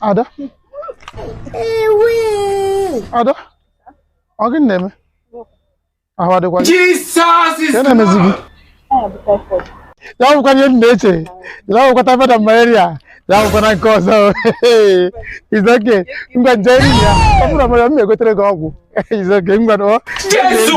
ada ada ọ gịnị na-eme ahụ adịkwa gị ka na-emezi gị ya bụkwa ihe m na-eche ya bụkwa typhoid malaria ya abụkwana nke ọzọ it's okay ngwa nje eri ya ọ bụrụ na m egotere gị ọgwụ it's okay ngwa na ọ Jesu!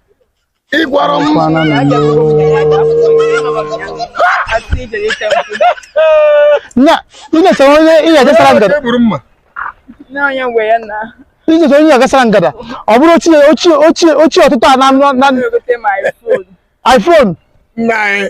ị gwara m kwana na nne. Nya, ị na-echekwa onye ị na-agasara ngada. egburu mma n'anya mgbe ya na Ị na-echekwa onye ị na-agasara ngada. Ọ bụrụ ochie ochie ochie ochie ụtụtụ a na na- na egote my phone iPhone. nna anyị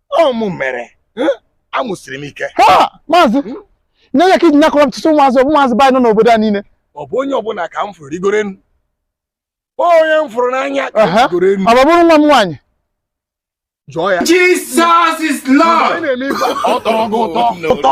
ọ mụ mere amụ siri m ike maazị na ọ ya ka i ji nyakọrọ m tụtụ ụmụazị ụmụazị be anyị nọ n'obodo a niile ọ bụ onye ọbụna ka m fụrụ rigoro enu onye m fụrụ n'anya ka m rigoro enu ọ bụrụ nwa m nwaanyị Joy Jesus is Lord. ọ tọrọ gị ụtọ ụtọ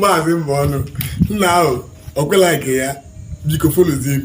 maazị Mbọnụ now ọ kwela nke ya biko folozie m